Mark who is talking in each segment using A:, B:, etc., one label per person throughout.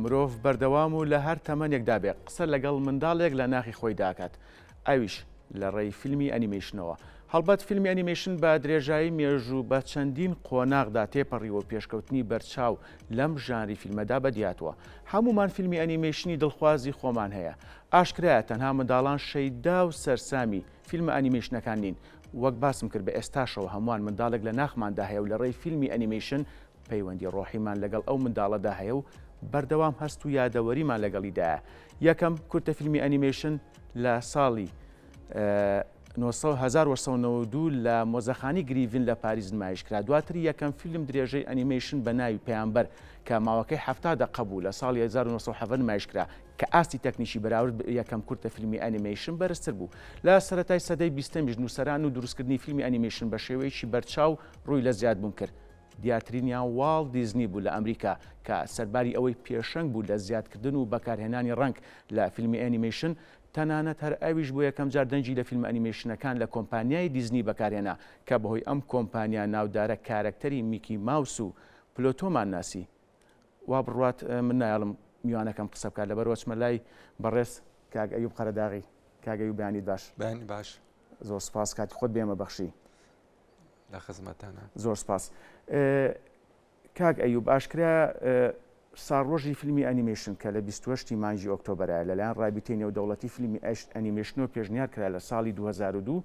A: مرۆڤ بەردەوام و لە هەر تەمەنێکدا بێت قسە لەگەڵ منداڵێک لە ناخی خۆی داکات ئەویش لە ڕێی فیلمی ئەنیمەیشنەوە. هەڵبەت فیلمی ئەنیمەیشن بە درێژایی مێژوو بە چەندین قۆناغدا تێپەڕیوە و پێشکەوتنی بەرچاو لەم ژانری فیلمەدا بەدیهاتووە. هەموومان فیلمی ئەنیمەیشنی دڵخوازی خۆمان هەیە. ئاشکرایە تەنها منداڵان شەیدا و سەرسامی فیلمە ئەنیمەیشنەکان نین. وەک باسم کرد بە ئێستاشەوە هەمووان منداڵێک لە ناخماندا هەیە و لە ڕێی فیلمی ئەنیمەیشن پەیوەندی ڕۆحیمان لەگەڵ ئەو منداڵەدا هەیە و بەردەوام هەست و یادەوەریمان لەگەڵیدایە. یەکەم کورتە فیلمی ئەنیمەیشن لە ساڵی هەزار و نۆ سەد و نەوەد و دوو لە مۆزەخانەی گریڤین لە پاریس نمایش کرا. دواتر یەکەم فیلم درێژەی ئەنیمەیشن بە ناوی پەیامبەر کە ماوەکەی حەفتا دەقە بوو لە ساڵی هەزار و نۆ سەد و حەڤدە نمایش کرا کە ئاستی تەکنیکی بەراورد بە یەکەم کورتە فیلمی ئەنیمەیشن بەرزتر بوو. لە سەرەتای سەدەی بیستەمیش نووسەران و دروستکردنی فیلمی ئەنیمەیشن بە شێوەیەکی بەرچاو ڕووی لە زیادبوون کرد. دیارترینیان واڵت دیزنی بوو لە ئەمریکا، کە سەرباری ئەوەی پێشەنگ بوو لە زیادکردن و بەکارهێنانی ڕەنگ لە فیلمی ئەنیمەیشن، تەنانەت هەر ئەویش بۆ یەکەمجار دەنگی لە فیلمە ئەنیمەیشنەکان لە کۆمپانیای دیزنی بەکارهێنا، کە بەهۆی ئەم کۆمپانیا ناودارە کارەکتەری میکی ماوس و پلۆتۆمان ناسی. وابڕوات من نایەڵم میوانەکەم قسە بکات لەبەرئەوە چمە لای بەڕێز کاک ئەیوب قەرەداغی. کاک ئەیوب بەیانیت باش. بەیانی باش.
B: زۆر سوپاس کاتی
A: خۆت بێمە بەخشی. لە
B: خزمەتتانە. زۆر سپاس
A: کاک ئەیوب، ئاشکرایە ساڵڕۆژی فیلمی ئەنیمەیشن کە لە بیست و هەشت ی مانگی ئۆکتۆبەرایە لەلایەن ڕابیتەی نێودەوڵەتی فیلمی ئەنیمەیشنەوە پێشنیار کرا لە ساڵی دوو هەزار و دوو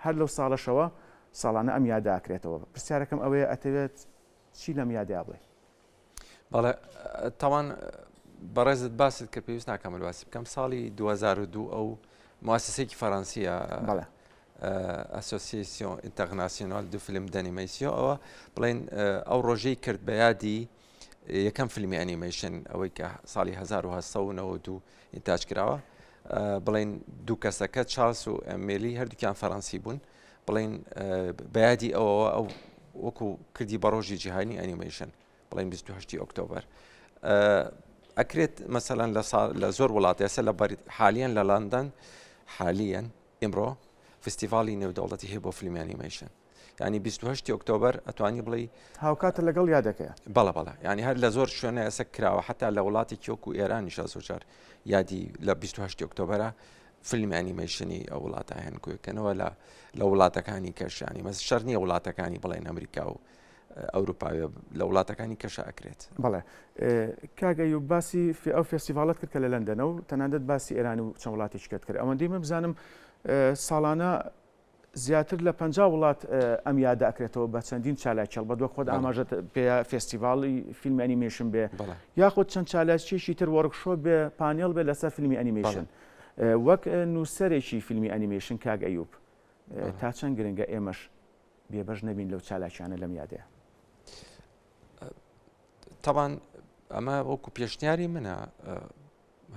A: هەر لەو ساڵەشەوە ساڵانە ئەم یادە ئەکرێتەوە پرسیارەکەم ئەوەیە ئەتەوێت چی لەم یادەیا بڵێ بەڵێ
B: تاوان بەڕێزت باست کە پێویست ناکەمە باسی بکەم ساڵی 2002 ئەو موسسێکی فەرەنسیە بەڵێ ئەسۆسیسیۆن ئینتەغناسیۆنال دو فیلم دەنیمەسیۆ ئەوە بڵێن ئەو ڕۆژەی کرد بە یادی یەکەم فیلمی ئەنیمەیشن ئەوەی کە ساڵی 1992 ئینتاج کراوە بڵین دوو کەسەکە چاس و ئەمێلی هەردووکیان فەرەنسی بوون بڵێین بە یادی ئەوەوە ئەو وەکو کردی بە ڕۆژی جیهانی ئەنیمەیشن بڵێن 28 ئۆکتۆبر ئەکرێت مەسەەن لە لە زۆر وڵات ئێستا لە حالیان لە لەندەن حالیان ئمڕۆ فستیڤالی نێودەوڵەتی هەیە بۆ فیلمی ئەنیمەیشن ینی 28 ئۆکتۆبر ئەتوانی بڵێ هاوکاتە لەگەڵ
A: یادەکەی بەڵە بەڵە ینی هەر
B: لە زۆر شوێنە ئەسە کراوە حتا لە وڵاتی کیۆک و ئێرانیشە زۆجار یادی لە 28 ئۆکتۆبرە فیلمی ئەنیمەیشنی ئەو وڵاتە هەن کوێکەنەوە لە لە وڵاتەکانی کەشانی مەس شەر نییە وڵاتەکانی بڵێن ئەمریکا و ئەوروپاوێ لە وڵاتەکانی کەشە ئەکرێت بڵێ
A: کاگە و باسی ئەو فستیڤالت کرد کە لە لەندەنە و تەنانەت باسی ئێران و چەند وڵاتیشکت کرد ئەوەندەی من بزانم ساڵانە زیاتر لە پەنجا وڵات ئەم یادە ئەکرێتەوە بە چەندین چالاکی هەڵبەت وەک خۆت ئاماژەت پێ فێستیڤاڵی فیلمی ئەنیمەیشن بێ یاخود چەند چالاکیەکی تر وەرکشۆپ بێ پانێڵ بێ لەسەر فیلمی ئەنیمەیشن وەک نووسەرێکی فیلمی ئەنیمەیشن کاک ئەیوب تا چەند گرنگە ئێمەش بێبەش نەبین لەو چالاکیانە لەم یادەیە
B: تاوان ئەمە وەکو پێشنیاری منە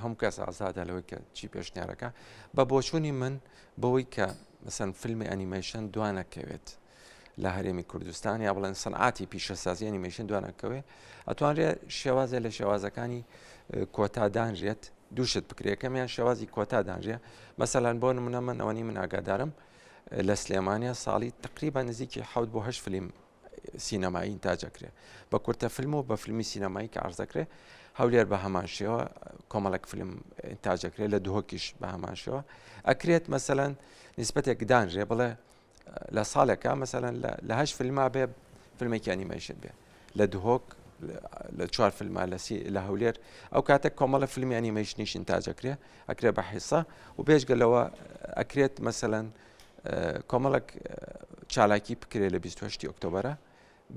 B: هەموو کەس ئازادە لەوەی کە چی پێشنیارەکە بە بۆچوونی من بەوەی کە مەسەن فیلمی ئەنیمەیشن دوانەکەوێت لە هەرێمی کوردستان یا بڵێن سنعاتی پیشەسازی ئەنیمەیشن دوانەکەوێ ئەتوانرێت شێوازە لە شێوازەکانی کۆتادانرێت دووشت بکرێکەمیان شێوازی کۆتادانرێ مەسەلاەن بۆ منە من ئەوەنی من ئاگادارم لە سلێمانیا ساڵی تقریبا نزیکی حوت بۆ هەش فلیم سینەمایی ئینتاج ئەکرێ بە کورتە فیلم و بە فیلمی سینەمایی کە ئارز دەکرێ هەولێر بە هەمان شێوە کۆمەڵک فیلم ئینتاجەکرێت لە دهۆکیش بە هەمان شێوە ئەکرێت مەسەەن نسبەتێک دانرێ بڵێ لە ساڵێکە مەسەەن لە هەش فیلما بێ فیلمێکی ئەنیمەیشن بێ لە دهۆک لە چوار فیلمە لەسی لە هەولێر ئەو کاتێک کۆمەڵە فیلمی ئەنیمەیشنیش ئینتاجەکرێ ئەکرێ بە حیسا و بێژگە لەوە ئەکرێت مەسەەن کۆمەڵک چالاکی بکرێت لە 28 ئۆکتۆبرە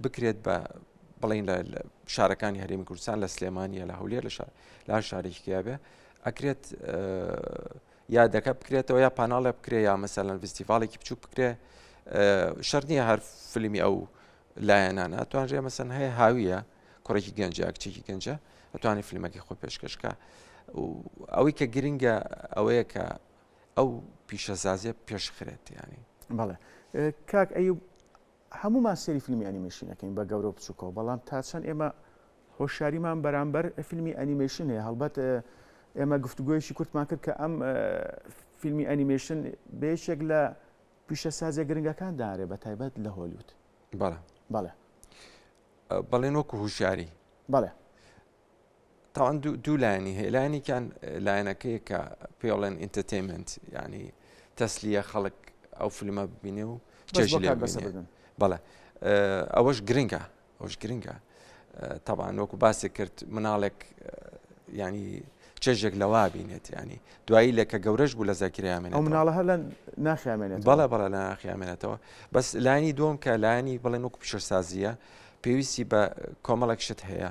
B: بکرێت بە بڵین لە شارەکانی هەرێمی کوردستان لە سلێمانە لە هەولێر لە شار لا شارێکیا بێ ئەکرێت یادەکە بکرێتەوە یا پاناڵە بکرێ یا مەسەلەن فستیڤالێکی بچوو بکرێ شەر نییە هەر فیلمی ئەو لایەنانە توانرێ مەسەن هەیە هاویە کوڕێکی گەنجە کچێکی گەنجە ئەتوانی فیلمەکەی خۆ پێشکەشکە ئەوەی کە گرنگە ئەوەیە کە ئەو پیشەزازیە پێشخرێت یانی. بەڵێ
A: کاک ئەیوب هەموومان سێری فیلمی ئەنیمەیشنەکەین بە گەورە و بچووکەوە بەڵام تا چەند ئێمە هۆشیاریمان بەرامبەر فیلمی ئەنیمەیشن هەیە هەڵبەت ئێمە گفتوگوۆیشی کورتمان کرد کە ئەم فیلمی ئەنیمەیشن بێشێک لە پیشە سازە گرنگەکان دارێ بە تایبەت لە هۆلیوت بەڵێ بەڵێ بەڵێن وەکو هوشیاری
B: بەڵێ تاوان دوو لایەنی هەیە لایەنێکیان لایەنەکەی کە پێڵێن ئینتەتەیمنت ینی تەسلیە خەڵک ئەو فیلمە ببینێ و چێژ لێ بەڵێ ئەوەش گرنگە ئەوش گرنگە تەبان وەکو باسی کرد مناڵێک ینی چێژێک لەوا بینێت ینی دوایی لە کە گەورەش بوو لە زەکریامێن ئەو مناڵە هەر لە
A: ناخیامێنێت بەڵە بەڵە لە
B: ناخیامێنێتەوە بەس لانی دوم کە لانی بڵێن وەکو پیشەسازیە پێویستی بە کۆمەڵک شت هەیە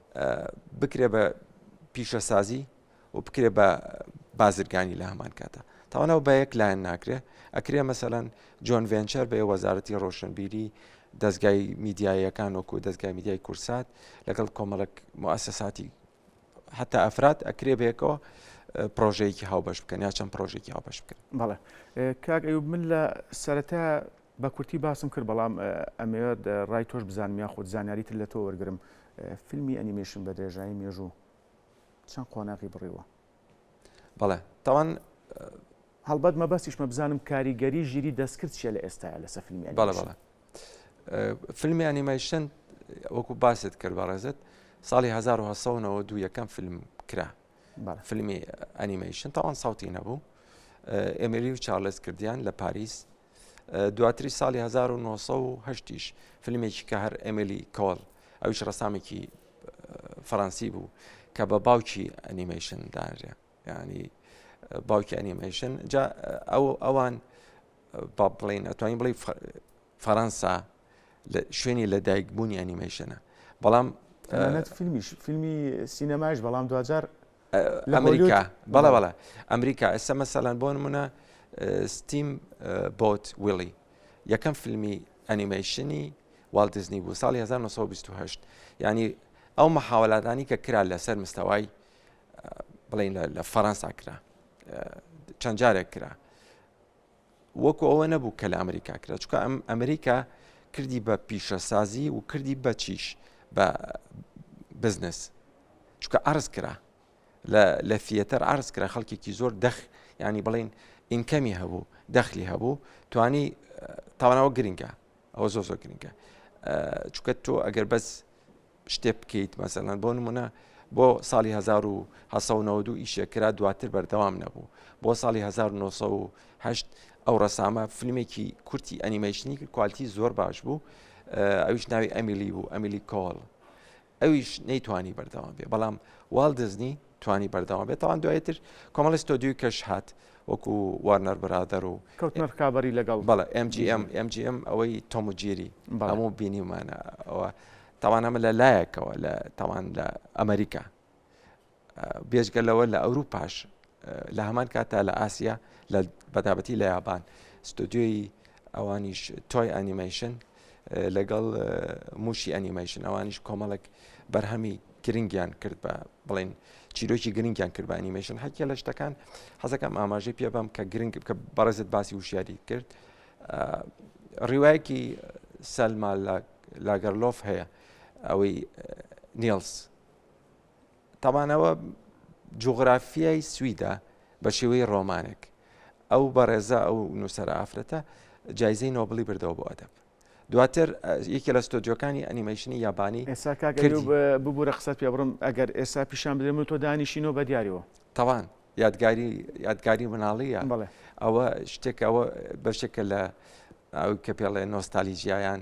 B: بکرێ بە پیشەسازی و بکرێ بە بازرگانی لە هەمان کاتە تاوانەوە بە یەک لایەن ناکرێ ئەکرێ مەسەەن جۆن ڤێنچەر بە وەزارەتی ڕۆشنبیری دەستگای میدیایەکان وەکو دەستگای میدیای کورسات لەگەڵ کۆمەڵک موسساتی حتا ئەفراد ئەکرێ بێکەوە پرۆژەیەکی هاوبەش بکەن یا چەند پرۆژێکی هاوبەش بکەن بەڵێ
A: کاک ئەوب من لە سەرەتا بە کورتی باسم کرد بەڵام ئەمەوێت ڕای تۆش بزانم یاخود زانیاری تر لە تۆ وەرگرم فیلمی ئەنیمەیشن بە درێژایی مێژوو چەند قۆناغی بڕیوە؟ بەڵێ
B: تاوان
A: هەڵبەت مەبەستیشمە بزانم کاریگەری ژیری دەستکرد چیە لە ئێستاە لەسە فیلمی بەڵێ بەڵێ
B: فیلمی ئەنیمەیشن وەکو باست کرد بە ڕێزت ساڵی 1992 یەکەم فیلم کرا فیلمی ئەنیمەیشن تاوان ساوتی نەبوو ئێمری و چارلز کردیان لە پاریس دواتری ساڵی 1970 یش فیلمێکی کە هەر ئەملی کۆڵ ئەوش ڕسامێکی فەڕەنسی بوو کە بە باوکی ئەنیمەیشن داژێ ینی باوکی ئەنیمەیشن جا ئەو ئەوان با بڵین ئەتوانین بڵی فەەنسا شوێنی لە دایکبوونی ئەنیمەیشنە بەڵام فیلمیش
A: فیلمی سینەماش بەڵام دوجار ئەمریکا
B: بەڵە بەڵە ئەمریکا ئێستا مەسەلەن بۆ نمونە ستیم بۆت ویلی یەکەم فیلمی ئەنیمەیشنی والدزنی بوو ساڵی 1920 ینی ئەو مححاولادانی کە کرا لەسەر مستەوای بڵین لە فەەنسا کرا چەند جارێک کرا وەکو ئەوە نەبوو کە لە ئەمریکا کرا چکە ئەم ئەمریکا کردی بە پیشەسازی و کردی بەچیش بە بزنس چکە ئارز کرا لە فیەتەر ئارز کرا خەڵکێکی زۆر دەخ ینی بڵین ئینکەمی هەبوو دەخلی هەبوو توانی تاوانەوە گرنگە ئەوە زۆ زۆر گرنگە چکە تۆ ئەگەر بەس شتێک بکەیت مەسەلەن بۆ نمونە بۆ ساڵی 1992 ئیشێک کرا دواتر بەردەوام نەبوو بۆ ساڵی 1970 ئەو ڕسامە فیلمێکی کورتی ئەنیمەیشنی کوالتی زۆر باش بوو ئەویش ناوی ئەمیلی بوو ئەمیلی کۆڵ ئەویش نەیتوانی بەردەوام بێ بەڵام واڵ دزنی توانی بەردەوام بێت تاوان دوای تر کۆمەڵی ستۆدیوی کەش هات وەکو وارنەر برادەر و کەوتنە ڕکابی لەگەڵ
A: بەڵە MGM
B: MGM ئەوەی تۆمجیری هەموو بینیمانە ئەوە تاوان ئەمە لە لایەکەوە لە تاوان لە ئەمریکا بێژگە لەوە لە ئەوروپاش لە هەمان کاتا لە ئاسیا لە بەتابەتی لە یابان ستۆدیۆی ئەوانیش تۆی ئەنیمەیشن لەگەڵ مووشی ئەنیمەیشن ئەوانیش کۆمەڵک بەرهەمی گرنگیان کرد بە بڵین چیرۆکی گرنگیان کرد بە ئەنیمەیشن حەکیە لە شتەکان حەزەکەم ئاماژەی پێ بەم کە گرنگ کە بەڕێزت باسی وشیاری کرد ڕیواەکی سەلما لاگەرلۆف هەیە ئەوەی نیلس تابانەوە جوغرافیای سویدا بە شێوەی ڕۆمانێک ئەو بەڕێزە ئەو نووسرە ئافرەتە جایزەی نۆبلی بردەوە بۆ ئەدەب دواتر یەکێ لە ستۆدیۆکانی ئەنیمەیشنی یابانی ئێسا
A: ببوورە قسەت پێ بڕم ئەگەر ئێستا پیشان بدرێم و تۆ دانیشینۆ بە دیارەوە تەوان
B: یادگاری یادگاری مناڵیە بڵێ ئەوە شتێکەوە بەشێکە لە کە پێڵێ نۆستالیجییان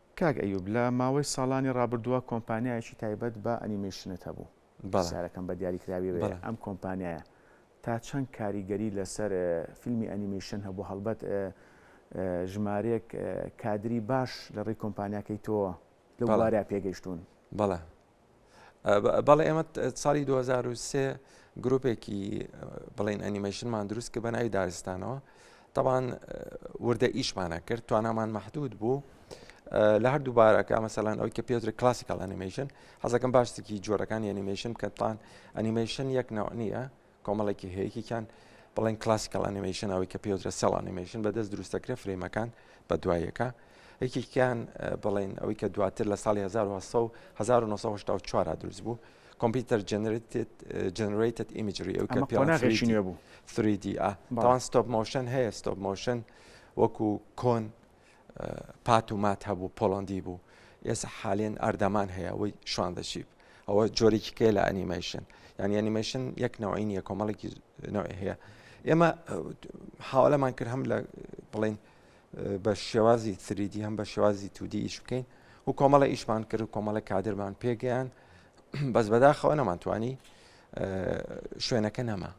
A: کاک ئەیوب لە ماوەی ساڵانی ڕابردووە کۆمپانیایەکی تایبەت بە ئەنیمەیشنت هەبوو، پرسیارەکەم بە دیاریکراویەوەیە ئەم کۆمپانیایە تا چەند کاریگەری لەسەر فیلمی ئەنیمەیشن هەبوو هەڵبەت ژمارەیەک کادری باش لە ڕێی کۆمپانیاکەی تۆوە لەو بوارە پێگەیشتوون؟
B: بەڵێ ئێمە ساڵی 2023 گرروپێکی بڵین ئەنیمەشنمان دروست کە بە ناوی دارستانەوە تاوان وردە ئیشمانە کرد توانامان محدود بوو لە هەردوو بارەکە مەسەلان ئەوی کە پێتر کلاسیکال ئەنیمەشن حەزەکەم باشتێکی جۆرەکانی ئەنیمەشن کەتان ئەنیمەشن یەک ناو نییە کۆمەڵێکی هەیە یەکێکیان بڵێن کلاسیکەڵ ئەنیمەیشن ئەوەی کە پێوترە سێڵ ئەنیمەیشن بەدەست دروستەکرێ فرەیمەکان بە دوایەکە یەکێکیان بڵێن ئەوەی کە دواتر لە ساڵی 1970 دروست بوو کۆمپیوتەر جنرێتت ئیمجری ئەو کە پێشینێ بوو 3D
A: تاوان
B: ستۆپ مۆشن هەیە ستۆپ مۆشن وەکو کۆن پات و مات هەبوو پۆڵەندی بوو ئێستا حالێن ئەردەمان هەیە ئەوەی شوان دەچیب ئەوە جۆرێکی کێ لە ئەنیمەیشن یعنی ئەنیمەیشن یەک نەوەی نیە کۆمەڵێکی نەوەی هەیە ئێمە حاڵەمان کرد هەم لە بڵین بە شێوازی تریدی هەم بە شێوازی تودی ئیش بکەین و کۆمەڵە ئیشمان کرد و کۆمەڵە کادرمان پێگەیان بەس بەداخەوە نەمانتوانی شوێنەکە نەما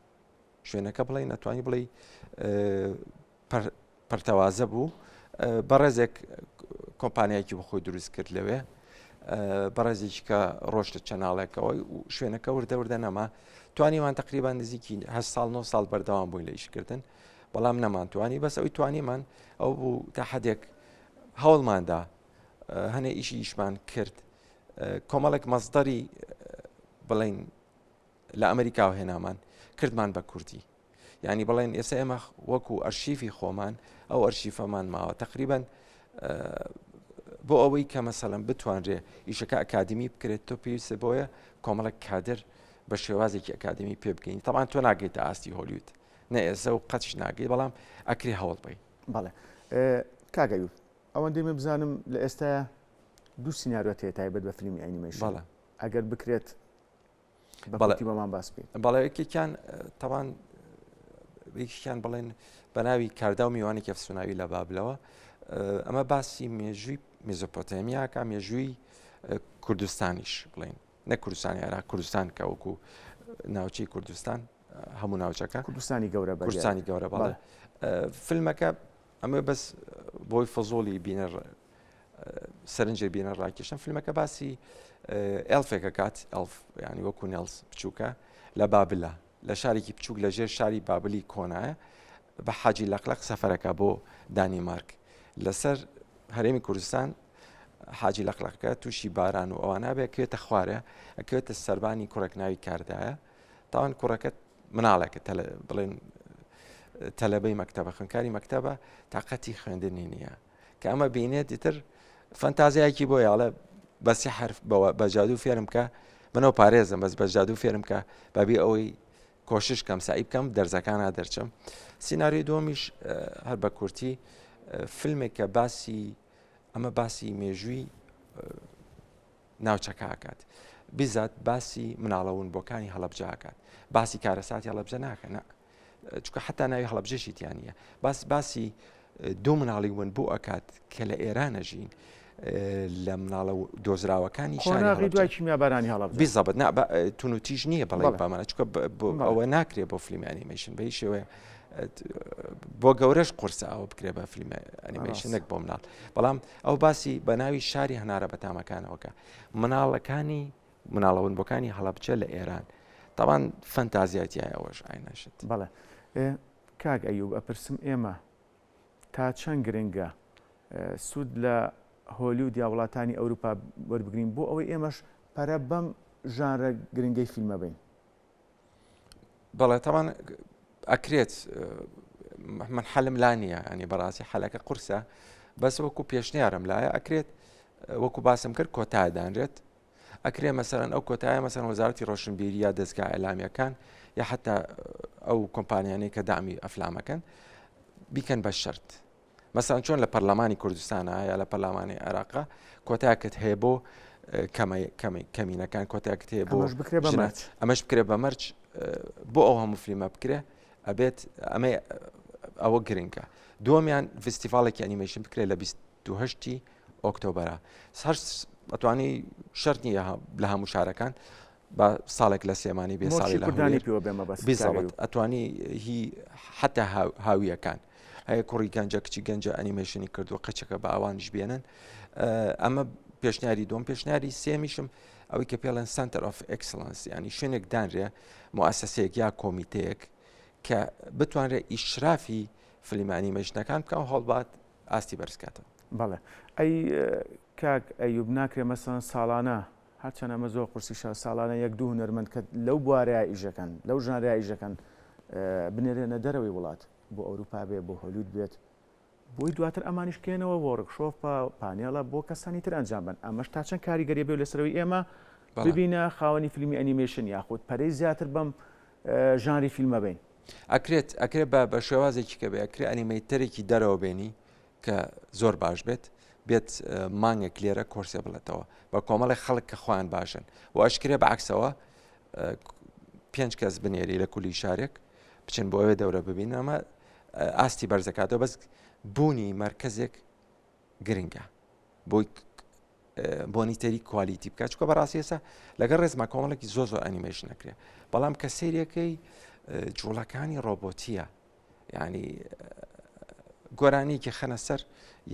B: شوێنەکە بڵێ نەتوانی بڵێ پەرتەوازە بوو بەڕێزێک کۆمپانیایکی بە خۆی دروست کرد لەوێ بەڕێزیش کە ڕۆشتە چەناڵێکەوە شوێنەکە وردەوردە نەما توانیمان تقریبان نزیکی هە ساڵ 9 ساڵ بەردەوام بووین لە ئیشکردن بەڵام نەمانتوانی بەس ئەوی توانیمان ئەو بوو تا حدێک هەوڵماندا هەنێ ئیشی ئیشمان کرد کۆمەڵێک مەزدەری بڵین لە ئەمریکاوە هێنامان کردمان بە کوردی یانی بڵێن ئێستا ئێمە وەکو ئەرشیفی خۆمان ئەو ئەرشیفەمان ماوە تقریبان بۆ ئەوەی کە مەسەلم بتوانرێ ئیشەکە ئەکادمی بکرێت تۆ پێویستە بۆیە کۆمەڵک کادر بە شێوازێکی ئەکادمی پێ بکەین تەوان تۆ ناگەیت ئاستی هۆلیوت نە ئێزە و قەچ ناگەی بەڵام ئەکری هەوڵ بی بەڵێ
A: کاگەیو ئەوەندی من بزانم لە ئێستا دوو سناریۆ تێ تایبەت بە فیلمی ئەنیمەیشن ئەگەر بکرێت بەڵێ بەمان باس بکەیت بەڵێ یەکێکیان
B: تەوان یەکیان بڵێن بە ناوی کاردا و میوانی کەفسوناوی لە بابلەوە ئەمە باسی مێژووی میزۆپۆتەمیاکە مێژووی کوردستانیش بڵین نە کوردستانی عێرا کوردستان کەوەکو ناوچەی کوردستان هەموو ناوچەکە کوردستانی گەورە کوردستانی
A: گەورە بەڵێ
B: فیلمەکە ئەمە بەس بۆی فەزۆڵی بینە سەرنجێ بینە ڕاکێشم فیلمەکە باسی ئەلفێکە کات ئەلف ینی وەکو نێلس بچووکە لە بابلە لە شارێکی بچووک لە ژێر شاری بابلی کۆنایە بە حاجی لەقلق سەفەرەکە بۆ دانیمارک لەسەر هەرێمی کوردستان حاجی لەقلقەکە تووشی باران و ئەوانە بێکوێتە خوارە ئەکوێتە سربانی کوڕێک ناوی کاردایە تاوان کوڕەکەت مناڵێکە بڵێن تەلەبەی مەکتتەبە خوێنکاری مەکتتەبە تااقەتی خوێندنی نییە کە ئەمە بینێت دیتر فەنتازیایکی بۆ یاڵە بەسی حرف بەوە بە جادو فێرم کە منەوە پارێزم بەس بە جادو فێرم کە بەبی ئەوەی کۆشش کەم سعی بکەم دەرزەکانە دەرچم سینناریۆی دۆمیش هەر بە کورتی فیلمێک کە باسی ئەمە باسی مێژووی ناوچەکە ئەکات بزات باسی مناڵەون بۆکانی هەڵبجە ئەکات باسی کارەساتی هەڵبجە ناکە نە چکە حتا ناوی هەڵبجەشی تیانە باس باسی دوو مناڵی ون بۆ ئەکات کە لە ئێرانە ژین لە مناڵە دۆزراوەکانی شاری دوای
A: کیمیابارانی هەڵب بزەبت نا تون
B: و تیژ نییە بەڵێ بامانە چکە ئەوە ناکرێت بۆ فیلمی ئەنیمەشن بەی شێوەیە بۆ گەورەش قرسە ئەوە بکرێ بە فیلمە ئەنیمەشن نەک بۆ مناڵ بەڵام ئەو باسی بە ناوی شاری هەنارە بە تامەکانەوەکە مناڵەکانی مناڵەون بۆکانی هەڵەبچە لە ئێران تاوان فەنتازیاتیای ئەوەش ئاینەشت بەڵێ
A: کاک ئەیوب ئەپرسم ئێمە تا چەند گرنگە سوود لە هۆلی و دیا وڵاتانی ئەوروپا وەربگرین بۆ ئەوەی ئێمەش پەرە بەم ژانرە گرنگەی فیلمە بین
B: بەڵێ تاوان ئەکرێت من حەلم لا نییە ئەنی بەڕاستی حەلەکە قورسە بەس وەکو پێشنیارم لایە ئەکرێت وەکو باسم کرد کۆتا دانرێت ئەکرێ مەسەرەن ئەو کۆتایە مەسەن وەزارتی ڕۆشنبیری یا دەستگا ئەلامیەکان یا حتا ئەو کۆمپانیانەی کە دامی ئەفلامەکەن بیکەن بە شرت مەسەن چۆن لە پەرلەمانی کوردستانە یا لە پەرلەمانی عێراقا کۆتاکت هەیە بۆ کەمینەکان کۆتاکت هەیە بۆ ئەمەش بکرێ بە مەرج بۆ ئەو هەموو فلیمە بکرێ ئەبێت ئەمە ئەوە گرنگە دومیان فستیڤالێکی ئەنیمەشن بکرێت لە 28 ئۆکتۆبرە ئەتوانی شەر نیە لە هەموو شارەکان با ساڵێک لە سلێمانی بێ ساڵی لە هەولێر پێوە بێمە بەس بی زەبت ئەتوانی هی حتا هاویەکان هەیە کوڕی گەنجە کچی گەنجە ئەنیمەشنی کردو قەچەکە بە ئەوانش بێنن ئەمە پێشنیاری دۆم پێشنیاری سێمیشم ئەوەی کە پێڵێن سنتەر ئۆف ئەکسلنس ینی شوێنێک دانرێ موسسەیەک یا کۆمیتەیەک کە بتوانرێت ئیشرافی فلیمانی مەژنەکان بکە هەڵبات ئاستی بەرزکاتەوە بەڵێ ئەی
A: کاک ئەیوب ناکرێ مەسەن ساڵانە هەرچەند ئەمە زۆر قورسیشە، ساڵانە یەک دوو هونەرمەند کە لەو بوارەیا ئیش دەکەن، لەو ژانرەیا ئیش دەکەن بنێرێنە دەرەوەی وڵات، بۆ ئەوروپا بێت، بۆ هۆلیود بێت، بۆی دواتر ئەمانیش کەێنەوە وۆرک شۆپە، پانێڵە بۆ کەسانی تر ئەنجام بەن، ئەمەش تا چەند کاریگەری بێت لەسەر ئەوەی ئێمە ببینە خاوەنی فیلمی ئەنیمەیشن یاخود پەرەی زیاتر بەم ژانری فیلمە بەین. ئەکرێت ئەکرێت
B: بە شێوازێکی کە بێ ئەکرێ ئەنیمەیتەرێکی دەرەوە بێنی کە زۆر باش بێت بێت مانگێک لێرە کۆرسێ بڵێتەوە بە کۆمەڵی خەڵک کە خۆیان باشن و ئەشکرێ بە عکسەوە پێنج کەس بنێری لە کولی شارێک بچن بۆ ئەوێ دەورە ببین ئەمە ئاستی بەرزەکاتەوە بەس بوونی مرکزێک گرنگە بۆی بۆنی تەری کوالیتی بکە چکە بەڕاستی ئێستا لەگەڵ ڕێزما کۆمەڵێکی زۆ زۆر ئەنیمەش نەکرێ بەڵام کە سریەکەی جوڵەکانی ڕۆبۆتیە ینی گۆرانیکی خەنە سەر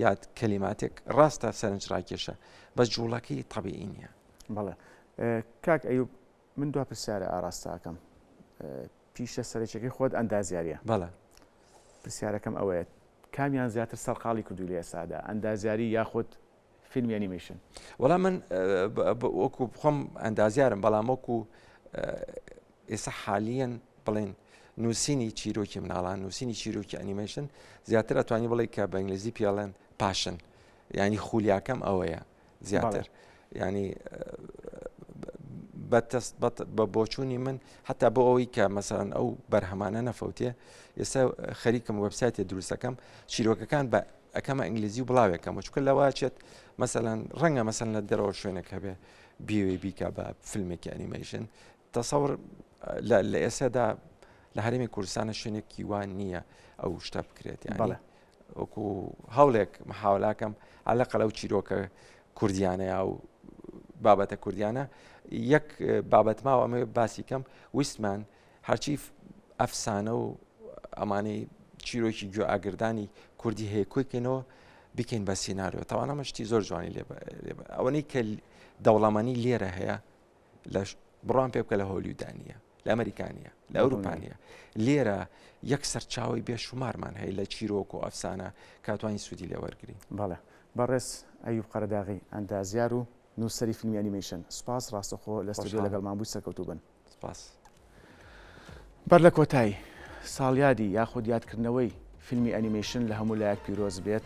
B: یاد کەلیماتێک ڕاستە سەرنج ڕاکێشە بە جوڵەکەی طبیعی نیە بەڵێ
A: کاک ئەیوب من دو پرسیارە ئاراستاکەم پیشە سەرچەکەی خۆت ئەندازیاریە بەڵێ
B: پرسیارەکەم
A: ئەوەیە کامیان زیاتر سەرقاڵی کردو لە ئێسادا ئەندازیاری یاخود فیلمی ئەنیمیشن وەڵام من
B: وەکو بخۆم ئەندازیارم بەڵام وەکو ئێستا حالیەن بڵێن نووسینی چیرۆکی مناڵان نووسینی چیرۆکی ئەنیمەشن زیاتر ئەتوانی بڵێ کە بە ئینگلیزی پیاڵێن پاشن ینی خولیاکەم ئەوەیە زیاتر ینی بەتەست بە بۆچوونی من حتا بۆ ئەوەی کە مەسەرەن ئەو بەرهەمانە نەفەوتێ ئێستا خەریکم وەبسایتێ دروستەکەم چیرۆکەکان بە ئەکەمە ئینگلیزی و بڵاوێک کەمە چکە لەواچێت مەسەەن ڕەنگە مەسەن لە دەرەوە شوێنێک هەبێ بیوێ بیکە بە فیلمێکی ئەنیمەیشن تەسەور لە ئێسەدا لە هەرمی کوردستانە شوێنێکی وان نییە ئەو شتە بکرێت یاڵێ وەکو هەوڵێک محاولاکەم ئالە قەلە و چیرۆکە کوردیانە یا و بابەتە کوردیانە یەک بابەت ماوە ئەمە باسی کەم ویستمان هەرچی ئەفسانە و ئەمانەی چیرۆکی گوێ ئاگردانی کوردی هەیە کۆی کەینەوە بکەین بە سینناریۆ تاوانەمە شتی زۆر جوانی لێ ئەوەی کە دەوڵەمەنی لێرە هەیە لە بڕان پێ بکە لە هۆلیودانە لە ئەمریکانە لە ئەوروپانە لێرە یەک سەرچاوی بێشومارمان هەیە لە چیرۆک و ئەفسانە کاتوانی سوودی لێ وەرگین بەڵێ بەڕێز
A: ئەیوب قەرەداغی ئەندازیار و نووسری فیلمی ئەنیمیشن سپاس ڕاستەخۆ لە ستۆدیۆ لەگەڵمان بووی سەرکەوتوو بن سپاس. بەر لە کۆتایی، ساڵیادی یاخود یادکردنەوەی فیلمی ئەنیمەیشن لە هەموو لایەک پیرۆز بێت.